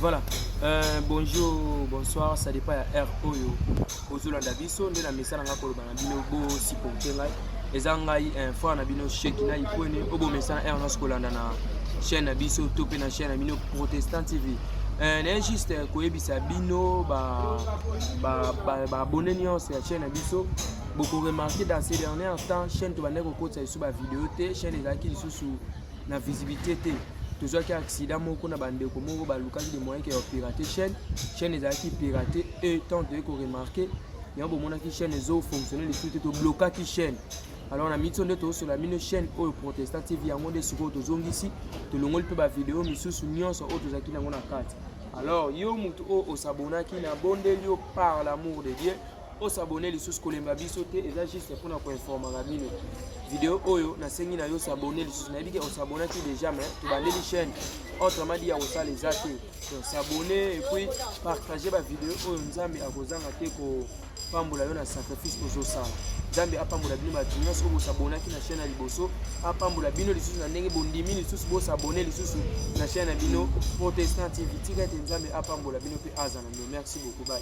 Voilà. Euh, bonjour, bonsoir, ça dépend ya heure oyo ozolanda biso nde na mesa na ngai koloba na bino bosiporte ngai eza ngai eh, frère na bino sheki na ikwene oyo bomesa na heure nyonso kolanda na chaîne na biso to mpe na chaîne na bino protestant tv euh, naye juste eh, koyebisa bino baabone nyonso ya chaîne na biso bokoremarke dans ces dernière temps chaîne tobandaki kokotisa lisusu bavideo te chaîne ezalaki lisusu na visibilité te tozwaki accident moko na bandeko moko balukaki de moyen ke ya pirate chaîne chaîne ezalaki pirate e tant toyei koremarke yango bomonaki chaîne ezofonctionne lisusu te toblokaki chaîne alors na miso nde tozosola mino chaîne oyo protesta tv yango nde sikoyo tozongisi tolongoli mpe bavideo misusu nyonso oyo tozalaki nango na kati alors yo motu oyo osabonaki na bondeli yo par l'amour de dieu o s'abonner lisusu kolemba biso te eza juste mpona koinformaka bino video oyo nasengi na yo s'abonner lisusu nayebi ke osabonaki déjà mais tobandeli chaîne autrement dit ya kosala eza te donc s'abonner epuis partage bavideo oyo nzambe akozanga te kopambola yo na sacrifice ozosala nzambe apambola bino bato nyonso oyo bosabonaki na chaîne ya liboso apambola bino lisusu na ndenge bondimi lisusu bosabone lisusu na chaîne ya bino protestant tv tika ete nzambe apambola bino mpe azala bino merci beaucoup bai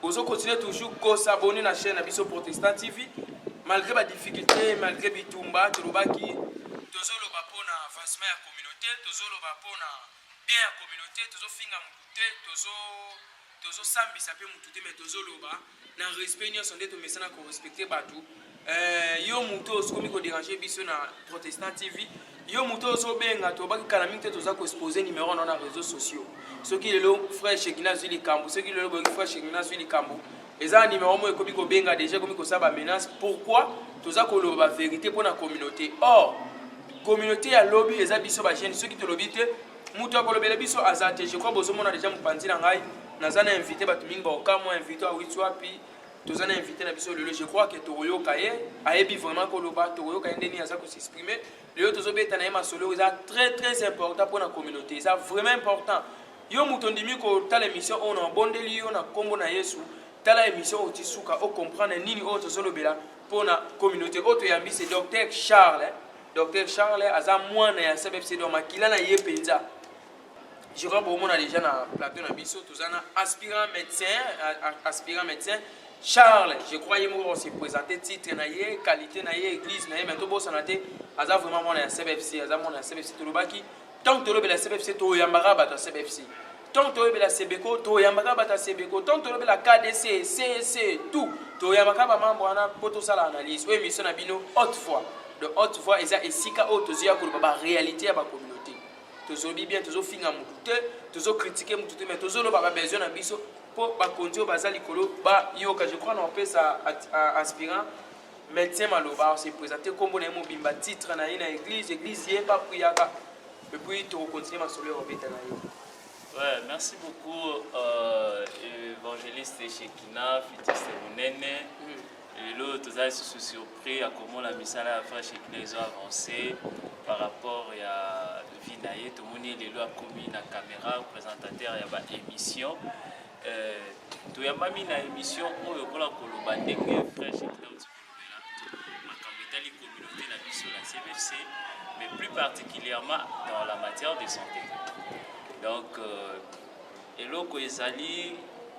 Bozo continuer toujours ko s'abonner na chaîne na biso Protestant TV malgré ba difficultés, malgré bitumba tolobaki tozoloba mpo na avancement ya communauté, tozoloba mpo na bien ya communauté, tozofinga mutu te, tozo tozosambisa mpe mutu te, mais tozoloba na respect nyonso nde tomesana ko respecter bato Eh, yo moto oyo okomi koderange biso na protestant tv yo moto oyo ozobenga tobaki kala mingi te toza koexpose numero na na réseau sociaux soki lelo frère shekina azwi likambo soki lelo boyoki frère shekina azwi likambo eza na numero moko ekomi kobenga deja ekomi kosala bamenace pourquoi toza koloba baverité mpo na communauté or communauté ya lobi eza biso bagene soki tolobi te moto akolobela biso aza te je crois bozomona deja mopanzi na ngai naza na invité bato mingi baokamwa invité awiti wapi toza na invité na biso lelo je crois que tokoyoka ye ayebi vraiment koloba tokoyoka ye ndeni aza kosexprime lelo tozobeta na ye masolo eza très très important mpo na communauté eza vraiment important yo moto ondimi kotala émission oyo na obondeli yo na nkombo na yesu tala émission oyo tisuka ocomprendre nini oyo tozolobela mpo na communauté oyo toyambi se docteur charles docteur charles aza mwana ya cbfc do makila na ye mpenza je crois bokomona déjà na plateau na biso toza na aspirant médecin aspirant médecin charles je crois ye moko se présente titre na ye qualité na ye église na ye mais tobosana te aza vraiment mwana ya cbfc aza mwana ya cbfc tolobaki ntango tolobela cbfc toyambaka bato ya cbfc ntango toyebela sebeko toyambaka bato ya sebeko ntango tolobela kdc cc tout toyambaka bamambre wana mpo tosala analyse oyo émission na bino haute fois de haute fois eza esika oyo tozwi ya koloba baréalité ya bakomi tozobi bien tozofinga motu te tozokritike motu te mai tozoloba babesoin na biso mpo bakonzi oyo baza likolo bayoka je crois na opesa aspirant médecin maloba ose présente nkombo na ye mobimba titre na ye na église église ye bapuyaka epuis tokokontinue masolo ya kobeta na ye Ouais, merci beaucoup, euh, évangéliste Shekina, Fitiste Mounene. Mm. lelo toza lisusu surpris ya komona misala ya vrai shekina ezo avance par rapport ya vie na ye tomoni lelo akomi na camera présentateur ya baémission euh, toyambami na émission oyo mpona koloba ndenge vrai shekina oti kolobela makambo etali communauté na biso na cbfc mais plus particulièrement dans la matière de santé donc euh, eloko ezali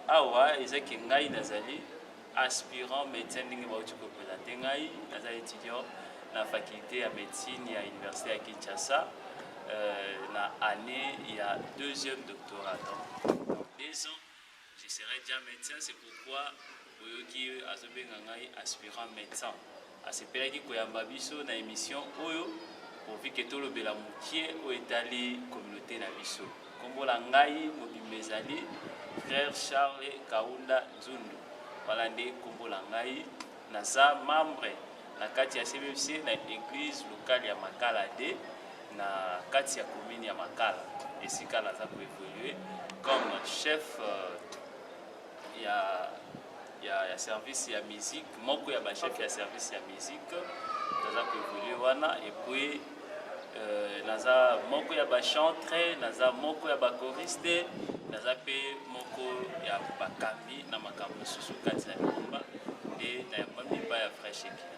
awa ezaki ngai nazali aspirant médecin ndenge bauti kopela te ngai naza étudiant na faculté ya médecine ya université ya kinshasa euh, na année ya deuxième doctorat donc deux ans je serai déjà médecin c'est pourquoi boyoki azobenga ngai aspirant médecin Asepelaki koyamba biso na emission oyo pourvu que tolobela mokie oyo etali communaute na biso. Kombo na ngai mobimba ezali frère Charles Kaunda Nzundu. Wana nde kombo na ngai. Naza membre na kati ya CBFC na église locale ya Makala 2 na kati ya commune ya Makala. Esika naza ko évoluer comme chef euh, ya ya, ya service ya musique moko ya bachef okay. ya service ya musique naza koevolue wana epuis euh, naza moko ya bachantre naza moko ya bakoriste naza mpe moko ya bakambi na makambo mosusu kati na lingomba nde na yango miba ya fraîche ekila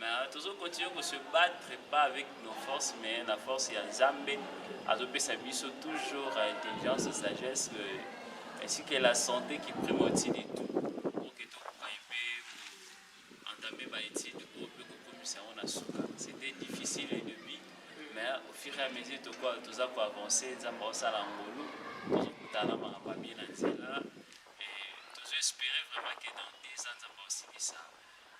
Mais tozo continuer ko se battre pas avec nos forces mais la force ya Nzambe azopesa biso toujours euh, intelligence sagesse euh, ainsi que la santé qui prime au-dessus de tout pour que tokoka mpe entamer ba études oyo mpe kokomisa yango na suka c'était difficile et demi mais au fur et à mesure tokoa toza koavance nzambe aosala ngolu tozokutana makambo abie na nzela tozo espérer vraiment que dans deux ans nzambe aosilisa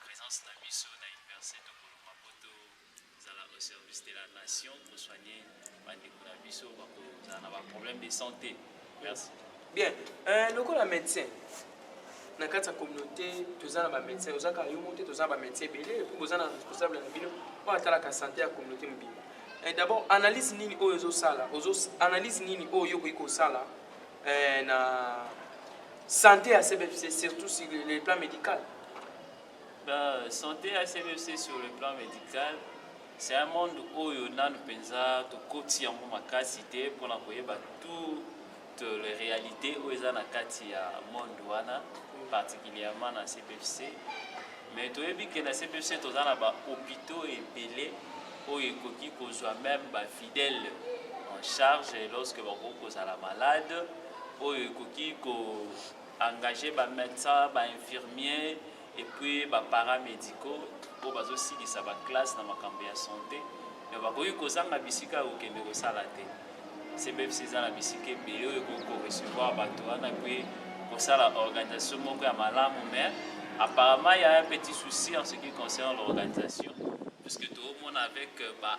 presence na biso na universite tokolo mabo tozala au service de la nation pour soigner bandeko na biso bakozala na baproblème de santé merci bien euh, lokola médecin na kati ya communauté toza na bamédecin ozaka yo moko te toza na bamédecin ebele epuis boza na responsable na bino oyo atalaka santé ya communauté mobimba eh, d'abord analyse nini oyo ozosala analyse nini oyo okoki kosala eh, na Sante ya CBFC surtout sur le plan medical. Ben, sante ya CBFC sur le plan medical c'est un monde oyo nanu mpenza tokoti yango makasi te mpo na koyeba toute le réalité oyo eza na kati ya monde wana particulièrement na cpfc mais toyebi ke na cpfc toza na bahôpitaux ebele oyo ekoki kozwa meme bafidèle en charge lorsque bakoki kozala malade oyo ekoki ko engager ba medecins ba infirmiers et puis ba paramédicaux oyo bazosilisa ba classe na makambo ya sante me bakoki kozanga bisika ya kokende kosala te cbfc eza na bisika ebele oyo ekoki korecevoir bato wana mpe kosala organisation moko ya malamu me apparemment ya un petit souci en ce qui concerne l'organisation puisque toomona avec euh, ba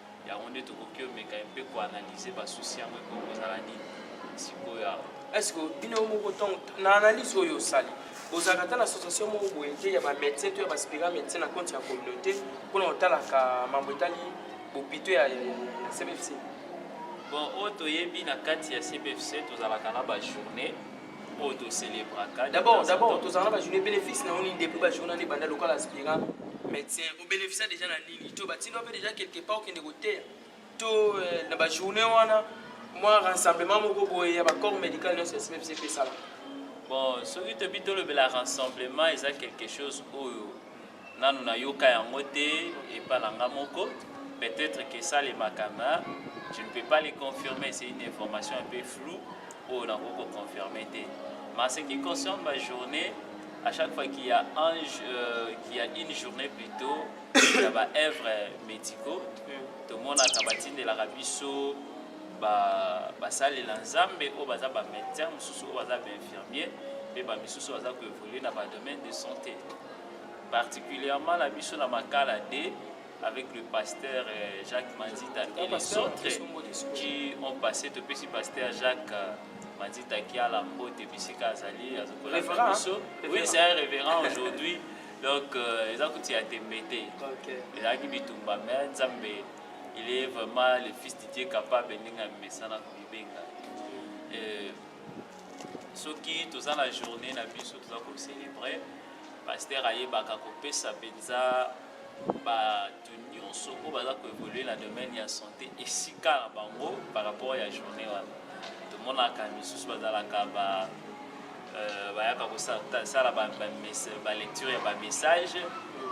yango nde tokoki omeka mpe koanalyse basusi yango ekoki kozala nini sikoyo awa estce bino moko ntongo na analyse oyo osali bozalaka ata na association moko boye te ya bamédecin to ya baspira médecin na compte ya communauté mpona kotalaka mambo etali bopito ya cbfc bon oyo toyebi na kati ya cbfc tozalaka na bajournée oyo tocelebraka d'abord d'abord tozalaka na bajournée bénéfice na yo nini depuis bajournée nde banda lokola aspira médecin obénéficia déjà na to batina mpe deja quelque part okende koteya to eh, na bajourne wana mwa rassemblement moko boye ya bacorps médical nyonso ya smepc mpe esala bon soki tobi tolobela rassemblement eza quelque chose oyo nanu nayoka yango te epa na nga moko peut-être que esalemaka na je ne peux pas le confirmer c'est une information un peu floue oyo nakoki koconfirme te mais ce qui concerne bajournée à chaque fois qu'il y a, un, euh, qu'il y a une journée plutôt ya ba œuvre médicaux tomonaka batindelaka biso basalela nzambe oyo baza bamédecin mosusu oyo baza bainfirmier mpe bamisusu baza koévolue na badomaine de santé particulièrement na biso na makala de avec le pasteur euh, Jacques Manzita ah, et les autres qui ont passé topesi pasteur Jacques euh, Manzita Kiala Mbote bisika azali azokolaka biso oui c'est un révérend aujourd'hui donc euh, eza kuti ya tembe te ezalaki bitumba me nzambe il est vraiment le fils de dieu capable ndenge amesana komibenga euh, soki toza na journée na biso toza kocélèbre paster ayebaka kopesa mpenza ba nyonso oyo baza koevolue na domaine ya santé esika na bango par rapport ya journée wana tomonaka misusu bazalaka ba euh, bayaka kosala balecture ya bamessage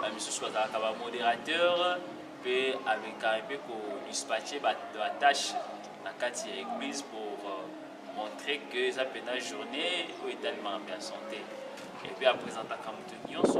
bamisusu bazalaka bamodérateur mpe ameka mpe kodispatche batâche na kati ya église pour euh, montrer que eza mpena journée oyo etalemaka mpe ya santé epuis apresentaka moto nyonso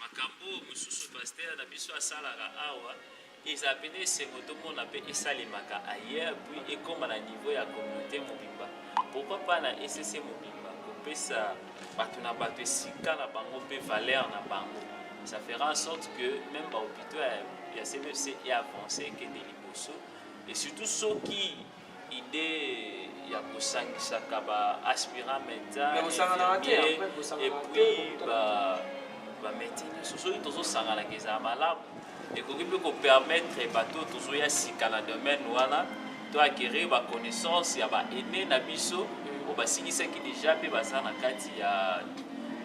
makambo oyo mosusu pastere na biso asalaka awa eza pene esengo tomona mpe esalemaka ailleurs puis ekoma na niveau ya communauté mobimba pourquoi pas na ecc mobimba kopesa bato na bato esika na bango mpe valeur na bango ça fera en sorte que même bahôpitaux ya cmfc e avance ekende liboso et surtout soki idee ya kosangisaka ba aspirant medecin epuis bameti nyonso soki tozosanganaka ezala malamu ekoki mpe kopermettre bato oyo tozoya sika na domaine wana to acquérir baconnaissance ya baene na biso oyo basilisaki déjà mpe baza na kati ya,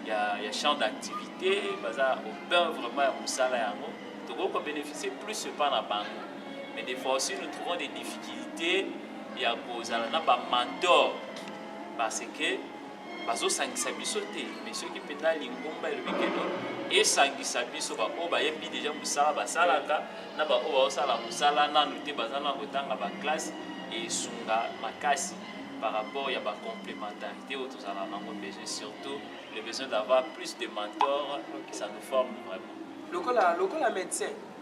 ya, ya champ d'activité baza au cœur vraiment ya mosala yango tokoki kobénéficie plus epa na bango mais des fois aussi nous trouvons des difficultés ya kozala na bamantor parce que bazosangisa biso te mais soki mpenza lingomba elobi keno esangisa biso baoyo bayebi deja mosala basalaka na baoyo baosala mosala nanu te baza na kotanga baklasse esunga makasi par rapport ya bacomplémentarité oyo tozala nango besoin surtout le besoin d'avoir plus de mentor ça nous forme vraiment lokola lokola médecin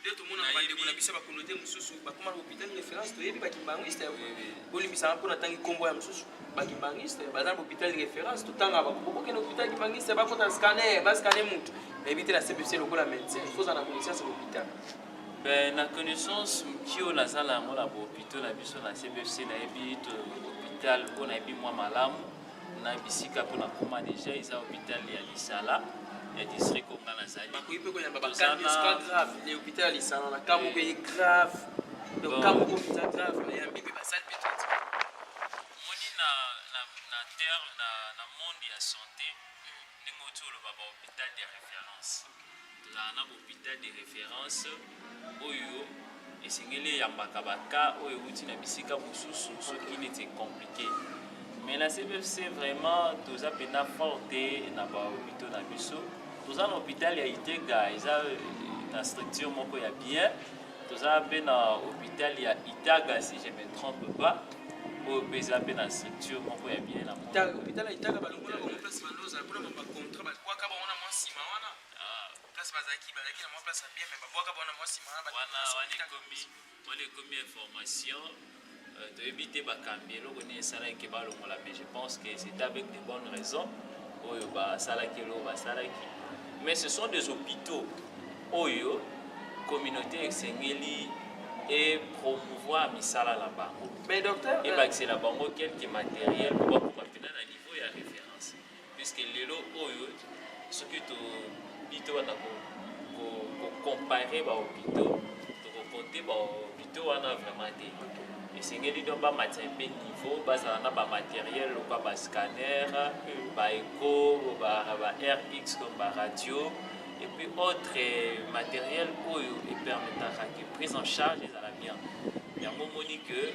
nde tomonaka bandeko na biso ya bakonote mosusu bakoma na hôpital référence toyebi bakimbanguiste bolimbisaka mpo natangi nkombo ya mosusu bakimbanguiste baza na hôpital référence totangaka bakokokende hôpital kimbanguiste bakota scanner bascane motu nayebi te na cpc lokola médecin foza na connaissance ya hôpital Ben, na connaissance moki oyo naza na yango na bahôpitaux na biso na cbfc nayebi hôpital oyo nayebi mwa malamu na bisika mpo na koma deja eza hopital ya lisala ya district oyo ngai nazali bakoki mpe koyamba bakanisa grave le hopital ya lisala na ka moko eye grave donc ka moko mpenza grave bayambi mpe basali mpe traitement omoni na na terre na monde ya santé ndenge oti oloba bahopital ya référence Tozala na bopital de reference oyo esengeli eyambaka ba cas oyo euti na bisika mosusu soki neti ecomplike mais na cbfc vraiment toza mpenza fort te na bahopitaux na biso toza na hôpital ya itega eza na structure moko ya bien toza mpe na hôpital ya itaga si je me trompe pas oyo mpe eza mpe na structure moko ya bien na hôpital ya itaga balongola bango place bandoza mpona bacontra bakwaka bango na mwa nsima wana Ah. Place bazalaki bazalaki na mwa place ya bien mais babwaka bana mwasi maa wana wana ekomi wana ekomi information euh, toyebi te bakambi eloko nini esalaki ke balongola mais je pense que c'est avec de bonnes raisons oyo basalaki eloko basalaki mais ce sont des hôpitaux oyo communauté esengeli et promouvoir misala na bango ebakisela bango quelque matériel mpo bakoma mpena na niveau ya référence puisque lelo oyo soki tobi tobanda kocompare bahopitaux tokokonte bahopitaux wana vraiment te esengeli donc bamatisa mpe niveau bazala na bamateriel lokwa bascanner baeco ba rx donc baradio epuis autre materiel oyo epermetaka que prise en charge ezala bien yango omoni que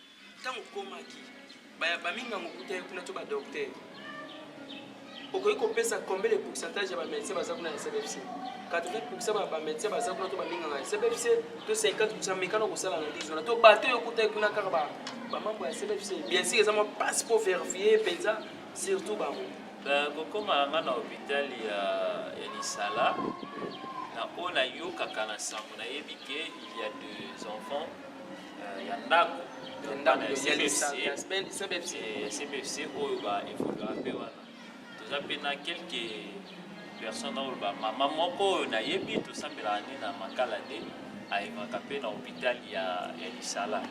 ntango okomaki bamingango okutaki kuna to badoktere okoki kopesa combien de pourcentage ya bamédecin baza kuna ya cbfc 80 pourcent ya bamédecin baza kuna to baminganga ya cbfc to 50 pourcent mekana kosala analyse wana to bato oyo okutaki kuna kaka bamambo ya cbfc bien sûr eza mwa mpasi mpo verifie mpenza surtout bango kokomaka ngai na hôpital ya lisala na oyo nayokaka na sango nayebi ke il y a deux enfants euh, ya ndako ya ndako ya CBFC CBFC oyo ba evoluera mpe wana toza mpe na quelque personne oyo ba mama moko oyo nayebi tosambelaka nde na makala te ayebaka mpe na hôpital ya ya lisala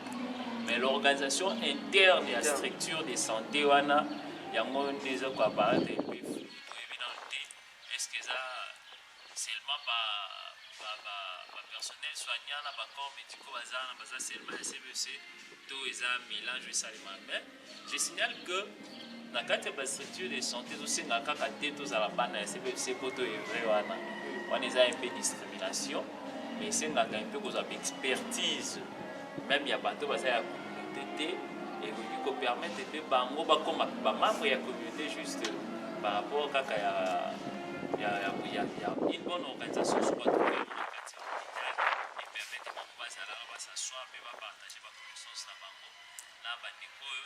mais l'organisation interne ya structure de santé wana yango nde eza koaparate mpe toyebi nano te est ce que eza seulement ba ba ba ba personnel soignant na ba corps médicaux baza na baza seulement ya CBC to eza mélange esalema mais je signale que na kati ya ba structure de santé tosenga kaka te tozala bana ya CBC po to evre wana wana eza un peu discrimination mais esengaka un peu kozwa ba expertise meme ya bato baza ya communauté te ekoki kopermettre mpe bango bakoma bamembre ya communauté juste par rapport kaka ya ya ya ya ya une bonne organisation sur bato oyo na kati ya communauté epermettre bango bazalaka basaswa mpe bapartage baconnaissance na bango na bandeko oyo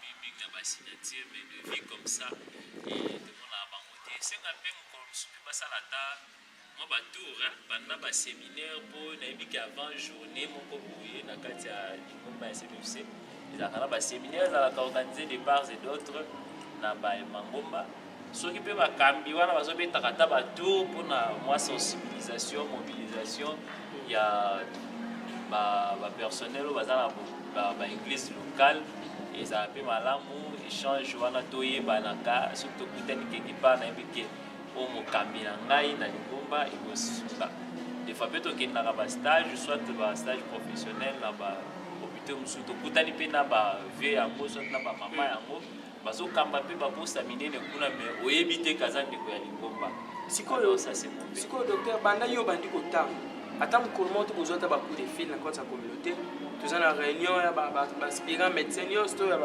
mingi na ba signature mais de vie comme ça tomonaka bango te esenga mpe mokolo mosusu mpe basala ata mwa batour banda baséminaire mpo nayebi ke avant journée moko boye na kati ya lingomba ya cpfc ezalaka na baséminaire ezalaka organise de part et d'autre na bamangomba soki mpe bakambi wana bazobetaka ata batour mpona mwa sensibilisation mobilisation ya bapersonnel oyo baza na baeglise locale ezala mpe malamu échange wana toyebanaka soki tokutani quelque part nayebi ke oyo mokambi na ngai na lingomba ekosimba des fois mpe tokendaka bastage soit bastage professionnel na ba hôpitaux mosusu tokutani mpe na ba vieux yango soit na bamama yango bazokamba mpe baposa minene kuna me oyebi te kaza ndeko ya lingomba sikoyo sikoyo docteur banda yo obandi kotanga ata mokolo moko tokozwa ata bacoup de fil na kati ya communauté toza na réunion ya baspirant médecin nyonso to ya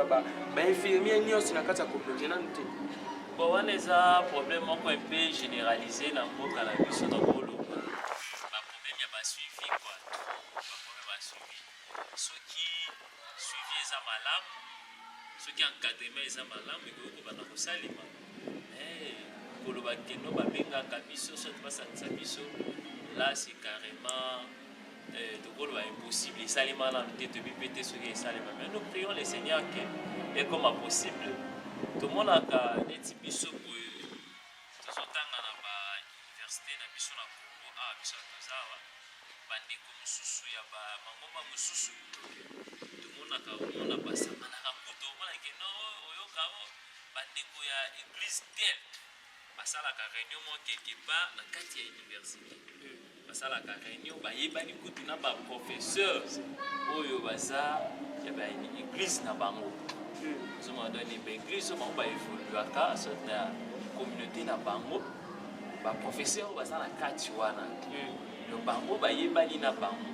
bainfirmier nyonso na kati ya communauté nanu te bon wana eza problème moko mpe généralise na mboka na biso na boloba baproblème ya basuivi kua baproblème ya suivi soki suivi eza malamu soki encadrement eza malamu ekoki kobanda kosalema eh, koloba keno babengaka biso soki basangisa biso là c'est carrément eh, tokoloba impossible esalema nanu te toyebi mpe te soki esalema mais nous prions le seigneur que ekoma possible tomonaka neti biso boye Tozo tanga na ba universite na biso na Congo awa biso bato toza awa ba ndeko mosusu ya ba mangomba mosusu tomonaka omona basakanaka kutu omona ke no oyoka o ba ndeko ya eglise tel basalaka reunion moko quelque part na kati ya universite basalaka reunion bayebani kutu na ba professeurs oyo baza ya ba église na bango ozomona donc ba église oyo bango ba évoluaka soit na communauté na bango ba professeurs oyo baza na kati wana donc bango bayebani na bango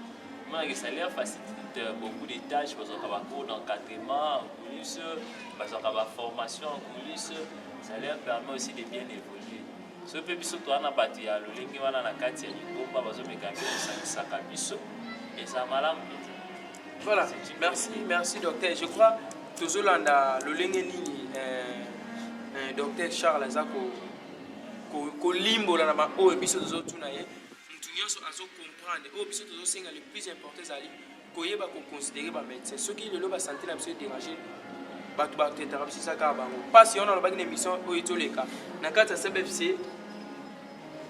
mona que ça leur facilite beaucoup de tâches bazwaka ba cours d'encadrement en coulisses bazwaka ba formations en coulisses ça leur permet aussi de bien évoluer so mpe biso toa na bato ya lolenge wana na kati ya lingomba bazomeka mpe kosangisaka biso eza malamu mpenza voilà merci merci docteur je crois tozolanda lolenge nini eh, eh, docteur charles aza kolimbola na baoyo biso tozotuna ye motu nyonso azokomprendre oyo biso tozosenga le plus important ezali koyeba ko considérer ba médecins soki lelo ba santé na biso e déranger bato ba traitaka biso eza kaka bango mpasi yango nalobaki na émission oyo etoleka na kati ya cbfc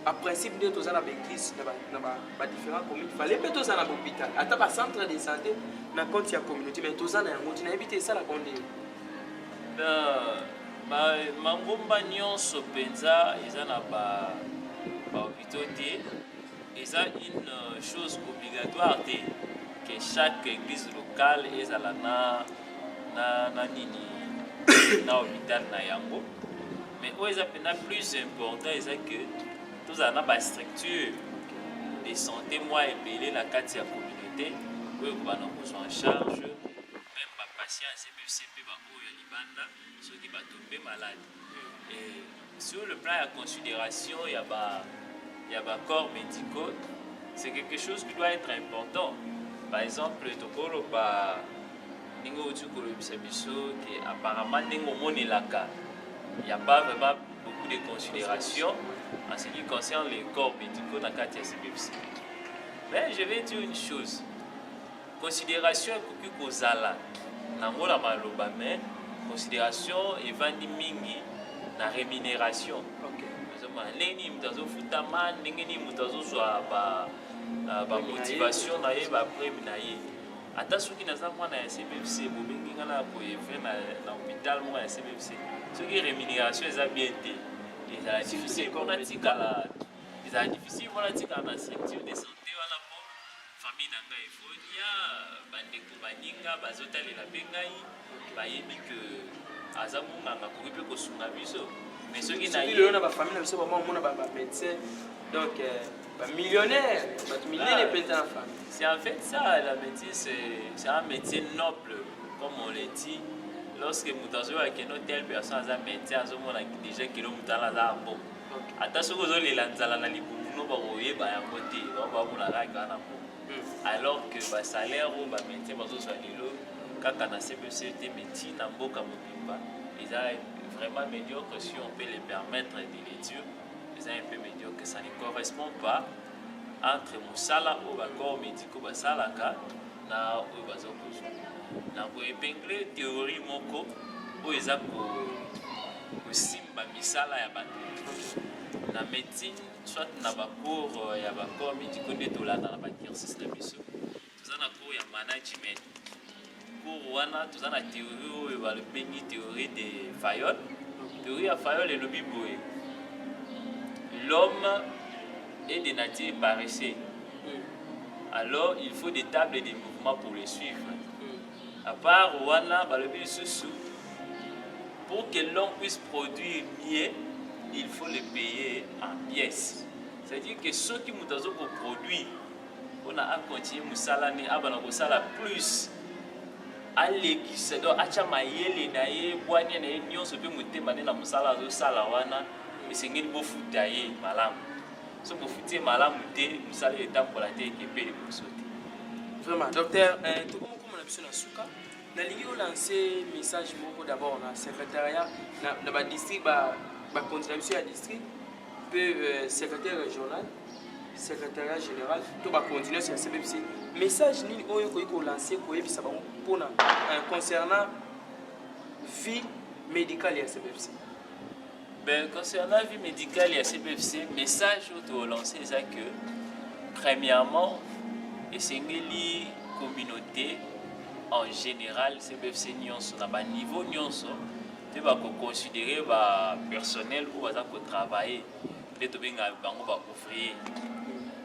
a principe nde toza na baeglise na badifférent commune fale mpe toza na bopital ata bacentre de santé na compte ya communauté mai toza na yango ti nayebi te esalaka nde mangomba nyonso mpenza eza na bahopitaux te eza une euh, chose obligatoire te que chaque église locale ezala na na, na nini na hôpital na yango mais oyo eza mpenza plus important eza que tozala na bastructure de santé mwa ebele na kati ya communauté oyo kobana kozwa en charge meme bapatient ya cpfc mpe baoyo ya libanda soki bato mpe malade sur le plan ya considération ya ba ya ba corps médicaux c'est quelque chose qui doit être important par exemple tokoloba ndenge outi kolobisa biso ke apparemment ndenge omonelaka ya pas vraiment beaucoup de considération en ce qui concerne les corps médicaux na kati ya cbfc mais je vais dire une chose Consideration ekoki kozala nango na maloba mais consideration evandi mingi na rémunération ozomona ndenge nini moto azofutama ndenge nini moto azozwa bamotivation na ye baprime na ye ata soki naza mwana ya cbfc bobengi nga na koevre na hôpital moko ya cbfc soki rémunération eza bien te ezala difficile mpo natikala ezala difficile mpo natikala na structure de santé Famille na nga Evonia, bandeko baninga bazotalela mpe ngai bayebi ke aza monganga akoki mpe kosunga biso mais soki lelo na bafamille na biso bama omona bamédecin donc euh, bamillionnaire bato minene mpenza na famille c'est en fait ça la médecine c'est un métier noble comme on le dit lorsque moto azoyoka keno telle personne aza médecin azomona déjà keno moto wana aza bon ata soki ozolela nzala na libumu no bakoyeba yango te bakola kaka na po hmm. alors que basalaire oyo bamédecin bazozwa lelo kaka na cbc te médecine na mboka mobimba eza vraiment médiocre si on peut le permettre de le dire eza un peu médiocre ça ne correspond pas entre mosala oyo ba corps médicaux basalaka na oyo baza kozwa na koepingle théorie moko oyo eza kosimba misala ya bato na médecine soit na bacours ya bacorps médicaux nde tolanda na bacursus na biso toza na cours ya management cours wana toza na théorie oyo balobengi théorie de fayol théorie ya fayol elobi boye l'homme est de nature paresseux alors il faut des tables de mouvement pour le suivre à part wana balobi lisusu pour que l'homme puisse produire mieux il faut le payer en pièces c'est-à-dire que soki moto azokoproduire pona a continue musala ne abana kosala plus alekisa donc atya mayele na ye bwania na ye nyonso mpe motema nde na mosala azosala wana esengeli bofuta ye malamu so bofuti ye malamu te mosala etambola te ekepe liboso te vraiment docteur eh, tokomokoma na biso na suka nalingi olanse message moko d'abord na secrétariat na badistrict bakonzi na biso ya district mpe euh, secrétaire régional secrétariat général to bacontinence ya cbpc message nini oyo ekoki kolanse koyebisa bango mpona euh, concernant vie médicale ya cbpc ben, concernant vie médicale ya cbpc message oyo tolanse eza que premièrement esengeli communauté en général cbfc nyonso na baniveau nyonso mpe bakoconsidere bapersonnel oyo baza kotravaille nde tobengaka bango baouvrier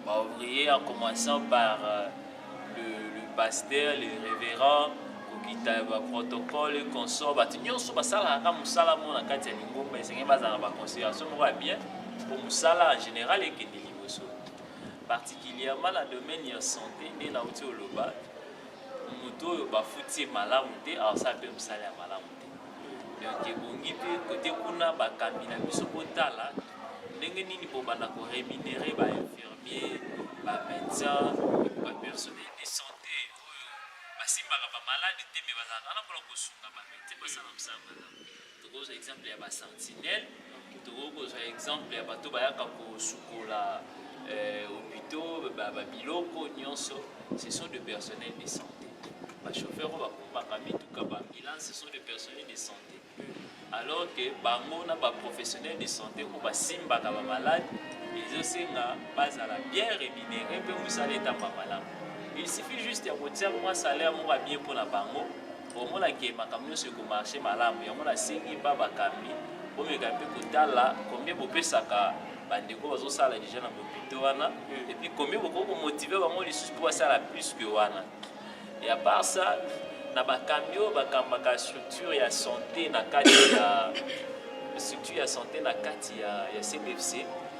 baouvrier en commençant par euh, le, le pasteur le révérend kokita baprotocole consort bato nyonso basalaka ka mosala moko na kati ya lingomba esengeli bazala na baconsideration moko ya bien mpo mosala en général ekende liboso particulièrement na domaine ya santé nde nauti oloba moto oyo bafuti ye malamu te asala mpe mosala ya malamu donc ebongi te kote kuna bakambi na biso botala ndenge nini bobanda koremunere bainfirmier bamédecin bapersonnel de santé oyo basimbaka bamaladi te me bazalaka wana mpona kosunga bamete basala mosala malamu tokozwa exemple ya basentinelle Tokoki kozwa exemple ya bato bayaka kosukola eh, hopitaux babiloko nyonso ce sont de personnel de santé bachauffeur oyo bakumbaka mituka baambulance ce sont de personnel de santé alors que bango na baprofessionnel de santé oyo basimbaka bamalade ezosenga bazala bien rémunéré mpe mosala etamba malamu il suffit juste ya kotia mwa salaire moko ya bien mpo na bango komona ke makambo nyonso ekomarche malamu yango nasengi epa bakambi bomeka mpe kotala combien bopesaka bandeko bazosala deja na bopito wana hmm. epuis combien bokoki komotive bango lisusu mpo basala plus que wana e apart ça na bakambi oyo bakambaka structure ya santé na kati ya structure ya santé na kati ya, ya cbfc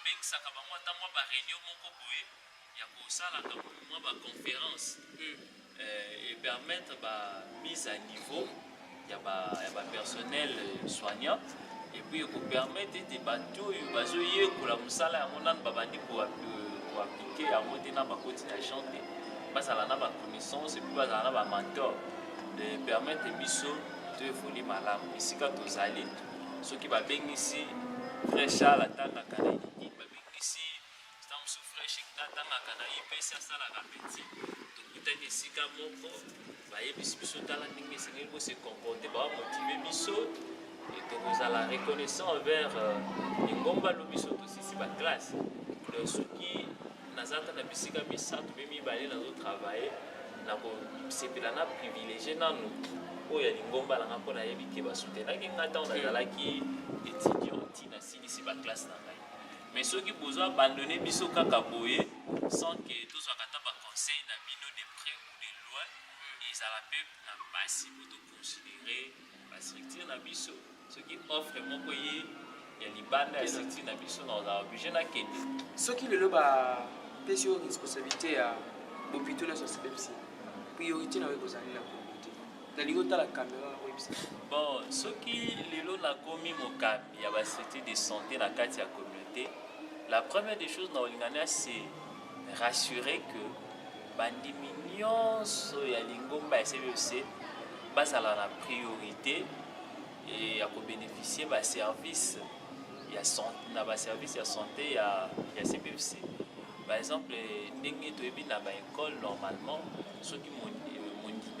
Obengisaka bango ata mwa ba reunion moko boye ya kosalaka mwa ba conference eh, e permettre ba mise à niveau ya ba ya ba personnel eh, soignant et puis ekopermettre ete bato oyo bazoyekola mosala yango nano babandi koaplike yango te na bakoti na champ te bazala na baconnaissance epuis bazala na bamantor de permettre biso toevoli malamu esika tozali soki babengisi vrai charle atangaka na eliki babengisi stamsu fresh ekta atangaka na ipesi asalaka peti tokutani esika moko bayebisi biso tala ndenge esengeli bose comporte bamotive biso e tokozala reconnaissant envers euh, lingomba lo biso tosisi baklasse soki naza ata na bisika misato mpe mibale nazo travaille nakosepela na privilégie nanu oyo ya lingomba na ngai mpo nayebi te basutenaki ngai ntango nazalaki étudiant ti nasilisi baklasse na ngai mais soki bozo abandonne biso kaka boye sans que tozwaka ata baconseil na bino de près ou de loin ezala mpe na mpasi considérer ba structure na biso soki offre moko ye ya libanda ya structure na biso na ozala oblige na kende soki lelo ba pesi yo responsabilité ya bopito na sosipepsi priorité na yo ekozali na kongo te nalingi otala kamera oyebisa bon soki lelo nakomi mokambi ya ba structure de santé na kati ya communauté la première des choses na olingania c'est rassurer que bandimi nyonso ya lingomba ya CBC bazala na priorité eh, ya kobénéficier baservice ya na baservice ya santé ya, ya CBC. Par exemple, ndenge toyebi na baekole normalement soki mondimi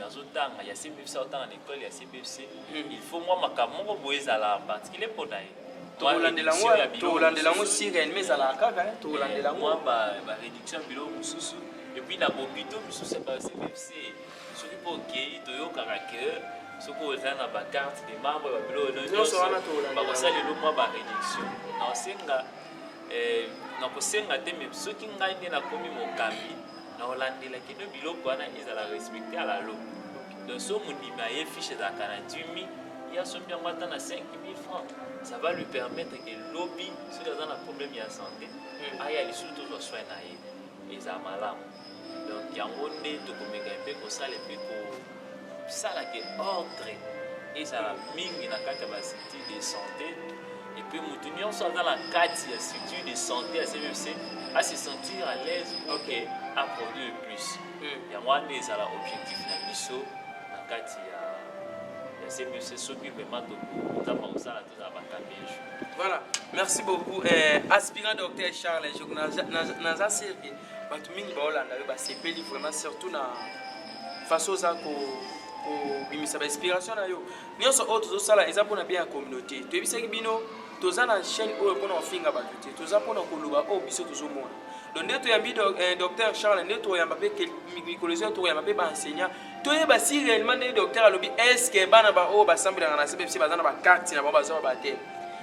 azotanga ya cbfc aotanga na ekole ya cbfc hmm. il faut mwa makambo moko boye ezala particulier mpo na ye tokolandela yango sirene mais ezalaka kaka eh, tokolandela yango baréduction ya biloko mosusu epuis na bobito mosusu ya ba cbfc soki mpo okei toyokaka ke soki oza na bacarte de membre ya babilo nyonso bakosala elo mwa baréduction naosenga eh, nakosenga te me soki ngai nde nakomi mokambi na olandela kino biloko wana ezala respecte à la loi donc so mondimi aye fiche ezalaka na 10 000 ye asombi yango ata na 5 000 francs ça va lui permettre que lobi soki aza na problème ya santé hmm. aya lisusu tozwa soin na ye eza malamu donc yango nde tokomeka mpe kosala mpe ko Sala ke ordre ezala mingi na kati ya ba structure de santé epuis moto nyonso aza na kati ya structure de santé ya cmfc ase sentir à l'aise ok a produire plus hmm. yango wana ezala objectif na biso na kati ya cmfc soki vraiment tokotama kosala tozala bakambi ya jour voilà merci beaucoup eh, aspirant docteur charles naza sirke bato mingi baolanda yo basepeli vraiment surtout na façon oza kobimisa bainspiration na yo nyonso oyo tozosala eza mpona bien ya communauté toyebisaki bino toza na chaîne oyo mpona kofinga bato te toza mpona koloba oyo biso tozomona donc nde toyambi eh, docteur charles nde toyamba mpe mikolo ezo toyamba mpe baenseignant toyeba si réellement nde docteur alobi estce bana baoyo basambelaka na cbfc baza na bakarte na bango bazwa bate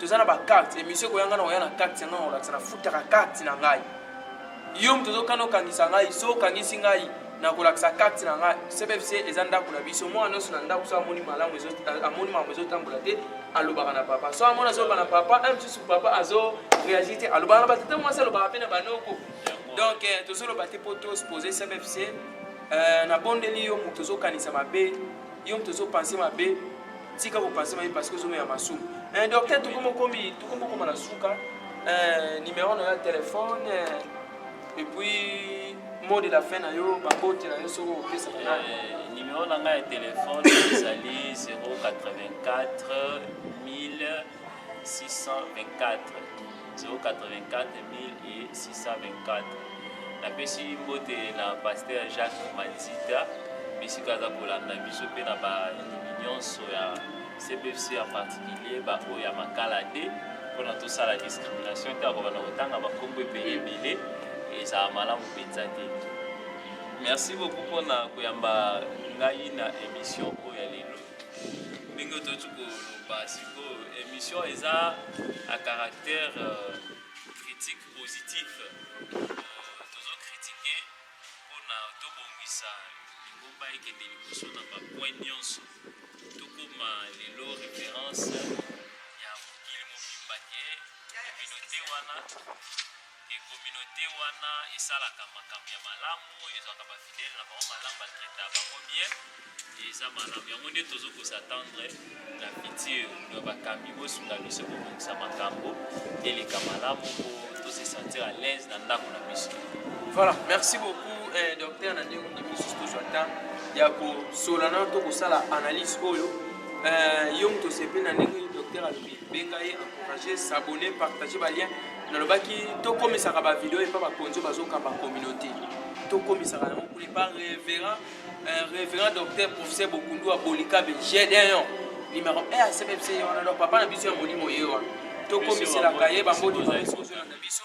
toza na bacarte emission ekoya ngai nakoya na carte yangai nakolakisa nafutaka carte na ngai yo moto ozokana okangisa ngai so okangisi ngai nakolakisa carte na ngai cbfc eza ndako na biso mwana nyonso na ndako so amoni malamu amoni makambo ezotambola te alobaka na papa so amoni azoloba na papa un mosusu papa azo réagir te alobaka na batata mwasi alobaka mpe na banoko donc eh, tozoloba te mpo tospose cbfc eh, nabondeli yo moto ozokanisa mabe yo moto ozo pense mabe tika ko pense mabe parce que ozo mela masumu eh, docteur tokomi okomi tokomi okoma na suka eh, numero na yo ya telefone eh, epuis mot de la fin na yo babote na yo soki okopesaka na eh, numero na ngai ya telefone ezali 084 1000 624 napesi mbote na paster jacques manzita bisika aza kolanda biso mpe na bandimi nyonso ya cpfc en particulier baoyo ya makala te mpona tosala discrimination te akobanda kotanga bakombo ebele ebele ezala malamu mpenza te merci beaucoup mpona koyamba ngai na émission oyo ya lelo ndenge toyoti koloba sikoyo émission eza à caractère euh, critique positif tozo kritike mpona tobongisa lingomba ekende liboso na bapoint nyonso tokoma lelo référence ya mokili mobimba te communauté wana que communaute wana esalaka makambo ya malamu ezwaka bafidele na bango malamu batraita bango bien eza malamu yango nde tozo kosatendre na futur ya bakambi bosunga biso kobongisa makambo eleka malamu po tose sentir à l'aise na ndako na biso voilà merci beaucoup eh, docteur na ndenge ondimi lisusu tozwa temps ya kosola nano to kosala analyse oyo eh, yo moto osepeli na ndenge docteur alobi benga ye encourage s'abonner partager ba lien nalobaki tokomisaka ba video epa bakonzi oyo bazokamba communauté tokomisaka yango kuna epa révérend euh, révérend docteur professeur bokundu ya bolikabe gedeon numéro 1 ya cbfc wana donc papa na biso ya molimo ye wana tokomiselaka ye bambodi na biso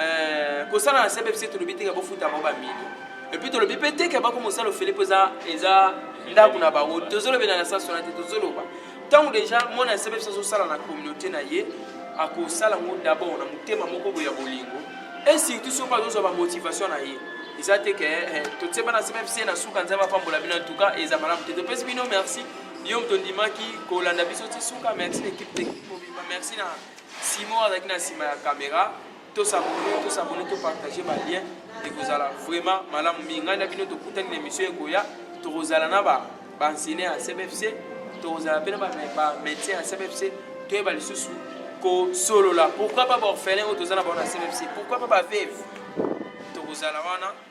Euh, kosala na sebe biso tolobi teke bofuta bango bamilio epuis tolobi mpe teke bako mosala ofele mpo eza eza ndako na bango tozolobela na sasona te tozoloba ntango deja mwana ya sebe biso azosala na communauté na ye akosala yango dabord na motema moko boye ya bolingo e surtout soki azozwa bamotivation na ye eza te ke eh, totyeba na sebe biso ye na suka nzambe apambola bino antuka eza malamu te topesi bino merci yo moto ondimaki kolanda biso ti suka merci na ekipe teknike mobimba merci na Simon azalaki na nsima ya kamera. To s'abonner, to s'abonner, to partager ba liens ekozala vraiment malamu mingi. Ngai na bino tokutani na emission ekoya, tokozala na ba ba enseignants ya CBFC, tokozala mpe na ba ba médecins ya CBFC, toyeba lisusu kosolola. Pourquoi pas ba orphelins oyo toza na bango na CBFC? Pourquoi pas ba veuves? Tokozala wana.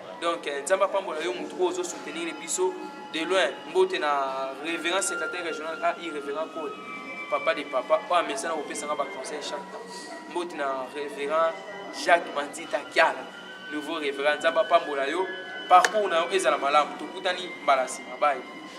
donc eh, nzambe apambola yo motu oyo ozo soutenir biso de loin mbote na révérend secrétaire régional a irrévérend cole papa de papa oyo amesana kopesanga baconseil chaque temps mbote na révérend jacques manzita kiala nouveau révérend nzambe apambola yo parcours na yo ezala malamu tokutani mbala nsima bai